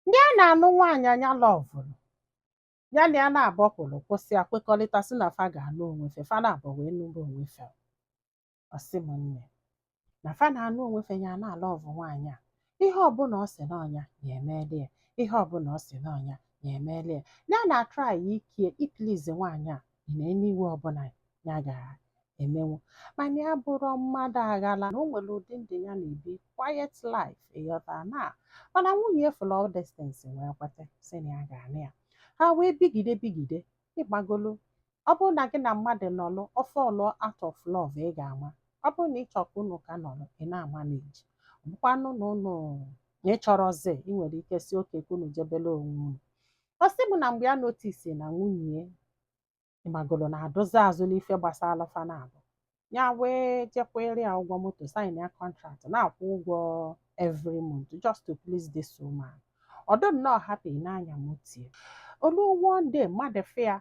Ndị a na-anụ nwaanyị a nya lọvụrụ, ya na ya naabọ kwulu kwusịa kwekọrịta sị na fa ga-anụ onwe fe, fa naabọ wee nụrụ onwe fe. Ọ sị m nne na fa na-anụ onwe fe ya na-alọvụ nwaanyị a. Ihe ọbụla ọ sị n'ọnya ya emeela ya, ihe ọbụla ọ sị n'ọnya ya emeela ya. Ya na-atraị ike ya iplizi nwaanyị a na any way ọbụla ya ga-emenwu mana ya abụrọ mmadụ aghala na o nwere ụdị ndụ ya na-ebi quiet life ịghọta na mana nwunye ya fụlụ all these things wee kweta sị na ya ga-anụ ya ha wee bigide bigide ị magolu ọ bụrụ na gị na mmadụ nọlụ ọ fall out of love ị ga-ama ọ bụrụ na ị chọrọ ka unu ka nọrọ ị na-amanage ọ bụkwanụ na unu na ị chọrọzi ị nwere ike sị okay ka unu jebele onwe unu ọ sị m na mgbe ya notisi na nwunye ị magolu na-adụzi azụ n'ife gbasara fa naabụ ya wee jee kwere ya ụgwọ moto sign ya contract na-akwụ ụgwọ every month just to please this woman ọ dụ nnọọ happy na-anya moto ya o lu one day mmadụ fụ ya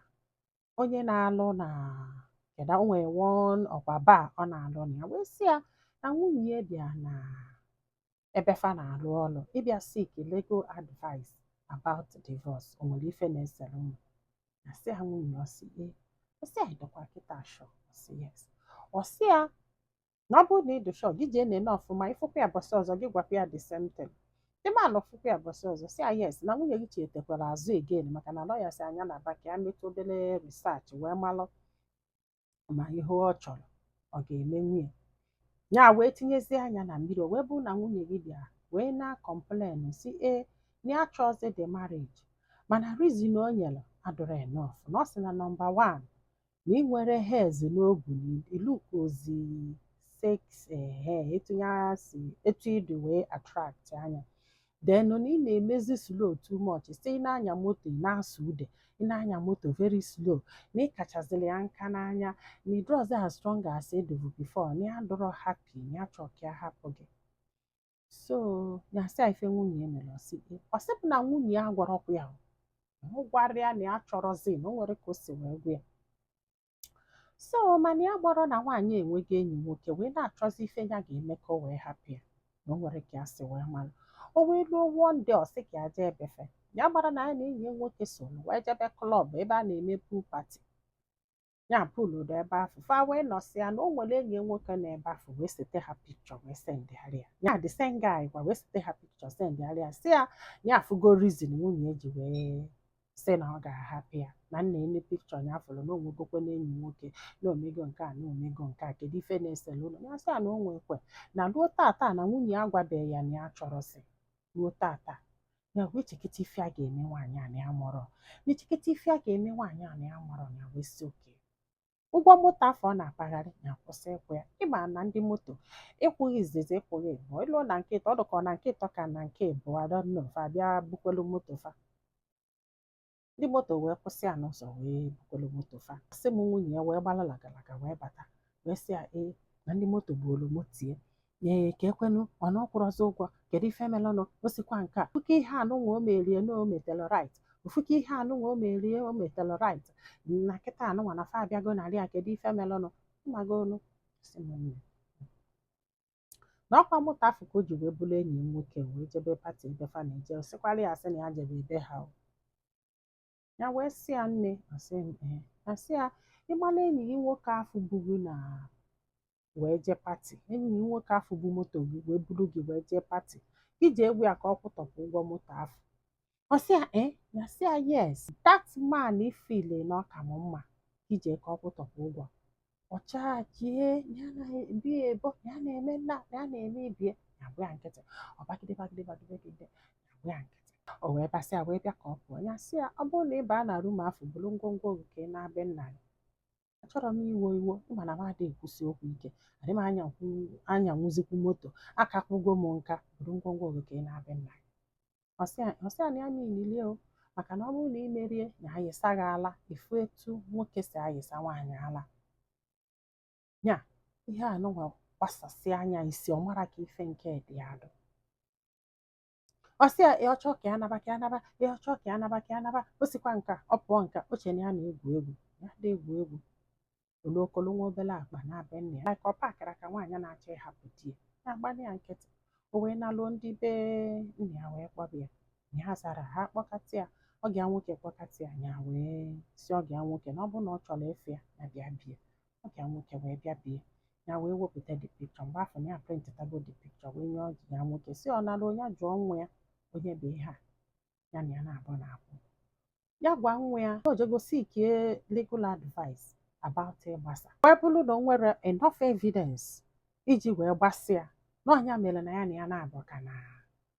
onye na-alụ na kedu o nwere one ọkwa bar ọ na-alụ na ya wee sị ya na nwunye ya bịa na ebe fa na-alụ ọlụ ịbịa seek legal advice about divorce o nwere ife na-esere unu na sị ya nwunye ọ sị ee ọ sị ya ị dụkwa kịta sure ọ sị yes ọ sị ya na ọ bụrụ na ị dị sure gị jee nene ọfụma ị fụkwa ya bọsị ọzọ gị gwakwa ya the same thing ị ma na ọ fụkwa ya bọsị ọzọ sị ya yes na nwunye gị chetekwara azụ again maka na lawyer sị ya nya naba ka ya metụ obere research wee malụ ma ihe ọ chọrọ ọ ga-emenwu nya wee tinyezie anya na mmiri o wee bụrụ na nwunye gị bịara wee na-akọmplen sị ya na ya chọọzi the marriage mana reason o nyere adụrọ enough na ọ sị na number one na ị nwere hairs n'obu na ị lukozi sexy ehe etu ya si etu ị dị wee attract nya then na ị na-emezi slow too much sị ị na-anya moto ị na-asụ ude ị na-anya moto very slow na ị kachaziri ya nka n'anya na ị dịrọzi as strong as ị dụvu before na ya adụrọ happy na ya chọọ ka ya hapụ gị so ya sị ife nwunye ya mere ọsị ọ sị bụ na nwunye ya agwarọkwa ya ọ gwarọ ya na ya chọrọzi na o nwere ka o si wee gwa ya so mana ya amarọ na nwaanyị enwego enyi nwoke wee na-achọzi ife ya ga-eme ka o wee hapụ ya na o nwere ka ya si wee mara o wee ruo one day ọ sị ka ya jee ebefe ya gbara na ya na enyi ya nwoke so wee jebe club ebe a na-eme pool party ya pool dị ebe afụ fa wee nọsịa na o nwere enyi nwoke na ebe afụ wee sete ha picture wee sendịara ya ya the same guy kwa wee sete ha picture sendịara ya sị ya ya afụgo reason nwunye ya ji wee sị na ọ ga-ahapụ ya na nna ene picture ya afụrụ na o nwegokwe na enyi nwoke na o mego nke a na o mego nke a kedu ife na-esele unu ya sị ya na o nwekwe na ruo tata na nwunye ya agwabeghị ya na ya chọrọzi ruo tata ya wee chekata ife ya ga-eme nwaanyị a na ya amarọ ya echekata ife ya ga-eme nwaanyị a na ya amarọ ya wee sị okay ụgwọ moto afụ ọ na-akpagharị ya kwụsị ịkwụ ya ịma na ndị moto ịkwụghị izizi ịkwụghị ịbụọ i luo na nke ịtọ ọ dị ka na nke ịtọ ka na nke ịbụọ I don't know fa abịa bukwelu moto fa ndị moto wee kwụsị ya n'ụzọ wee bukọrọ moto fa sị m nwunye ya wee gbara lagalaga wee bata wee sị ya ee na ndị moto ebugolu moto ya ee ka ekwenụ ọ na ọ kwụrọzi ụgwọ kedu ife melụnụ o sikwa nke a ofuke ihe anụnwa o merie na o meterọ right ofuke ihe anụnwa o merie o meterọ right na kịta anụnwa na fa abịago nara ya kedu ife melụnụ mmago onu sị m nne na ọkwa moto afụ ka o ji wee buru enyi ya nwoke wee jebe pati ebe fa na-eje ọ sịkwara ya asị na ya jebe ebe ha o. ya wee sị ya nne asị m nne ya sị ya ịma na enyi gị nwoke afụ bu gị na wee jee pati enyi gị nwoke afụ bu moto gị wee buru gị wee jee pati gị jee gwa ya ka ọ kwụtọpụ ụgwọ moto afụ ọ sị ya ee ya sị ya yes that man ị feelụ na ọ ka m mma ije ka ọ kwụtọpụ ụgwọ ọ chajie ya na bie ebo ya na-eme nna ya na-eme ibie ya agba ya nkịtị ọ bagide bagide bagide bagide ya agba ya nkịtị o wee basịa wee bịa ka ọ pụọ ya sị ya ọ bụrụ na ị baa na rum afụ buru ngwongwo gị ka ị naa be nna gị achọrọ m iwe iwe ịma na m adịghị ekwusi okwu ike adị m anyanwuzikwu moto aka kwụgo m nka buru ngwongwo gị ka ị naa be nna gị ọ sị ya na ya niile o maka na ọ bụrụ na ị merie ya ayịsa gị ala ị fụ etu nwoke si ayịsa nwaanyị ala ya ihe anụnwa gbasasị anya isi ọ mara ka ife nke dị adụ ọ sị ya ya chọọ ka ya naba ka ya naba ya chọọ ka ya naba ka ya naba o sikwa nka ọ pụọ nka o chere na ya na-egwu egwu ya adị egwu egwu o bukolu nwa obere akpa naa be nna ya ka ọ pakara ka nwaanyị na-achọ ịhapụ di ya ya agba ya nkịtị o wee naluo ndị be nna ya wee kpọba ya ya azarọ ha kpọkata ya ọgọ ya nwoke kpọkata ya ya wee sị ọgọ ya nwoke na ọ bụrụ na ọ chọrọ ịfụ ya ya bịa be ya ọgọ ya nwoke wee bịa be ya ya wee wepụta the picture mgbe afụ na ya prịntịtago the picture wee nye ọgọ ya nwoke sị ọ nara onye jụọ nwa ya onye bụ ihe a ya na ya na-abụ na akwụ ya gwa nwa ya o jego seek legal advice about ịgbasa wee bụrụ na o nwere enough evidence iji wee gbasịa na ọ ya mere na ya na ya na-abụ ka na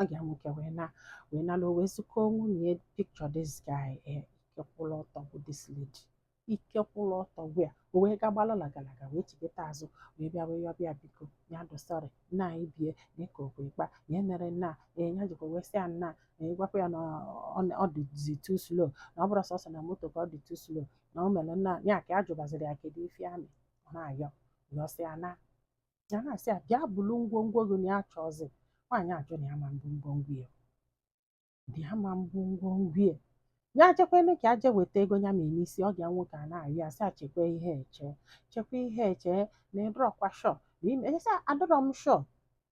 ọgọ ya nwoke wee naa wee naluo wee zụkọ nwunye picture this guy eh, ike kwụrụ ọtọ bụ this lady ike kwụrụ ọtọ wee o wee ga gbala lagalaga wee chighata azụ wee bịa wee yọba ya biko ya dosari na anyị bie nye ka okwe kpa ya mere na eh, ya jikwa wee sị ya na eh, gwakwa ya na ọ na- ọ dịzi too slow na ọ bụrụ sọsọ na moto ka ọ dị too slow na o mere na ya ka ya jụbaziri ya kedu ife amị ọ na-ayọ yọsịa na ya na-asị ya bịa bulu ngwongwo gị na ya achọọzi nwaanyị ajụ na ya ama ebu ngwongwo ya dị ya ama ebu ngwongwo ya ya chekwene ka e je weta ego ya me n'isi ọ ga nwoke a na-arị ya sị achekwa ihe eche chekwa ihe eche na ị dụrọkwa sure na ime esa adụrọ m sure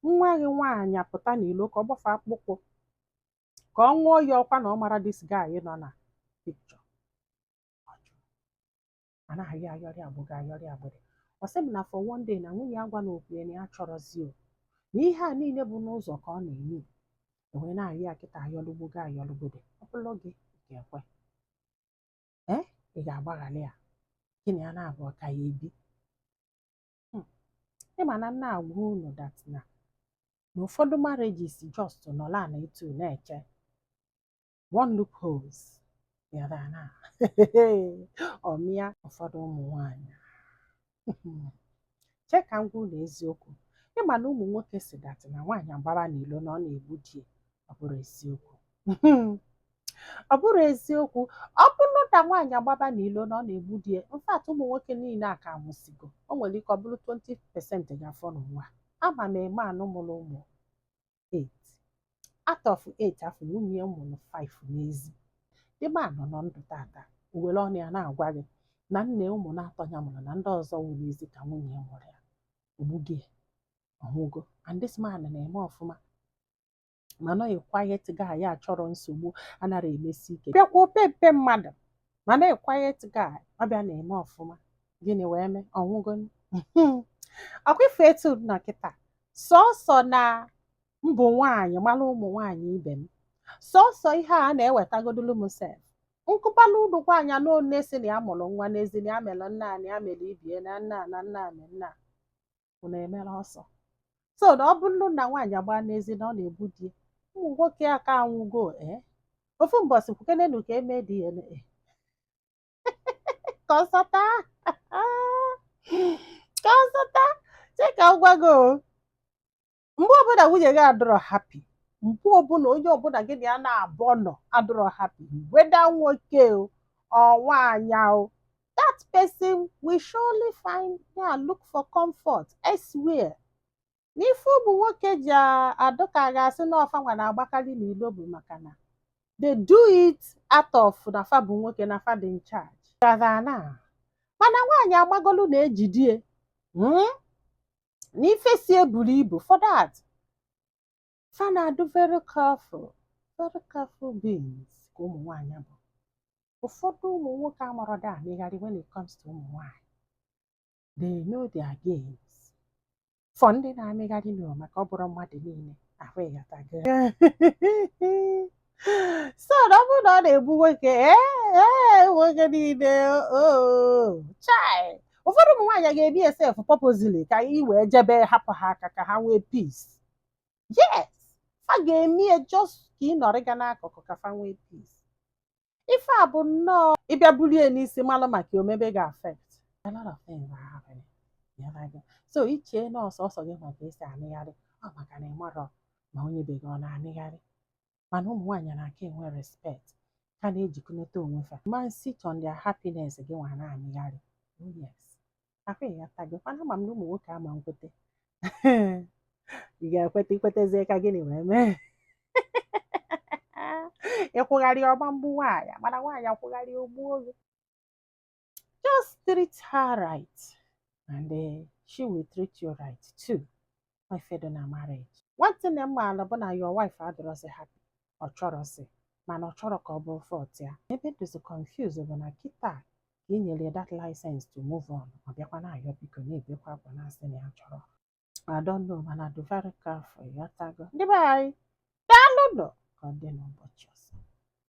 nwa gị nwaanyị apụta n'ilo ka ọ gbafe akpụkpọ ka ọ ṅụọ iyi ọkwa na ọ mara this guy nọ na picture a na-arị ayọrịgbogo ayọrịgbode ọ sị m na for one day na nwunye ya gwa na okwu ya na ya achọrọzi o na ihe a niile bụ n'ụzọ ka ọ na-eme e wee na-arị ya kịta ayọlụgbogo ayọlụgbode ọ bụrụ gị ị ga-ekwe ee ị ga-agbaghara ya gị na ya na-abụọ ka ya ebi Hmm. ị ma na m na-agwa unu that na na ụfọdụ marriages just nọla na etu na-eche one loopholes ya da na ọmịa ụfọdụ ụmụ nwanyị chee ka m gwa unu eziokwu ị ma na ụmụ nwoke si that na nwaanyị agbaba n'ilo na ọ na-egbu di ya ọ bụrọ eziokwu ọ bụrọ eziokwu ọ bụrụ na nwaanyị agbaba n'ilo na ọ na-egbu di ya in fact ụmụ nwoke niile aka anwụsịgo o nwere ike ọ bụrụ 20 percent ga-afọ n'ụwa ama m a man mụrụ ụmụ 8 out of 8 afụ nwunye ya mụrụ 5 n'ezi the man nọ ndụ tata o were ọnụ ya na-agwa gị na nna ụmụ naatọ ya mụrụ na ndị ọzọ wụ n'ezi ka nwunye ya mụrụ ya o gbugo ya ọ nwụgo and this man na-eme ọfụma ma nọghị quiet guy ya achọrọ nsogbu anarọ emesi ike bịakwa opempe mmadụ mana a quiet guy ọ bịa na-eme ọfụma gịnị wee mee ọ nwụgonu ọkwa ị fụ etu nọ kịta sọsọ na m bụ nwaanyị mara ụmụ nwaanyị ibe m sọsọ ihe a na-ewetagodolu m sef nkụpala ụlọ nwaanyị anụ one si na ya mụrụ nwa n'ezi na ya mere nna na ya mere ibie na nna na nna na nna unu emere ọsọ so na ọ bụrụ na nwaanyị agbaa n'ezi na ọ na-egbu di ya ụmụ nwoke aka anwụgo ee ofu mbọsị kwukenenu ka e mee DNA ka ọ sata ka ọ sata chee ka m gwa gị o mgbe ọbụla nwunye gị adụrọ happy mgbe ọbụla onye ọbụla gị na ya na-abụọ nọ adụrọ happy whether nwoke or nwaanyị o that person will surely find and look for comfort elsewhere n'ife ụmụ nwoke ji a- adụ ka a ga-asị na ọ fa nwa na-agbakarị n'ilo bụ maka na they do it out of na fa bụ nwoke na fa dị in charge Gaza na mana nwaanyị agbagolu na e jidie mm? na ife si eburu ibu for that fa na-adụ very careful very careful beings ka ụmụ nwaanyị bụ ụfọdụ ụmụ nwoke amarọda amịgharị when it comes to ụmụ nwaanyị they know their games for ndị na-amịgharị n'ụwa maka ọ bụrọ mmadụ niile ahụ ịghọtago so na ọ bụrụ na ọ na-egbu nwoke ee nwoke niile oh, chai ụfọdụ ụmụ nwaanyị ga-eme ya sef purposely ka i wee jebe hapụ ha aka ka ha nwee peace yes fa ga-eme ya just ka ị nọrị ga n'akụkụ ka fa nwee peace ife a bụ nnọọ ị bịa bulie n'isi malụ maka omebe ga affect a lot of things are happening so i chee na ọ sọsọ gị ma ka esi amịgharị ọ maka na ịmarọ ma onye be gị ọ na-amịgharị mana ụmụ nwaanyị na-aka enwe respect ka na-ejikọnata onwe fa man sit on their happiness gị nwa na-amịgharị oh yes ọkwa ịghọtago mana ama m na ụmụ nwoke ama nkwete ị ga-ekweta ikwetezie ka gịnị wee mee ị kwụgharị ọ ma mgbu nwaanyị mana nwaanyị kwụgharị o gbuo gị just treat her right and uh, she will treat you right too ife dị na marriage one thing m maala bụ na your wife adịrọzi happy ọ chọrọzi mana ọ chọrọ ka ọ bụrụ fault ya ebe m dịzi confuse bụ na kịta ka i nyere ya that license to move on ọ bịakwa na-ayọ biko na-ebekwa akwa na-asị na ya chọrọ I don't know mana dị very careful ịghọtago ndị be anyị daalụ nụ ka ọ dị n'ụbọchị ọzọ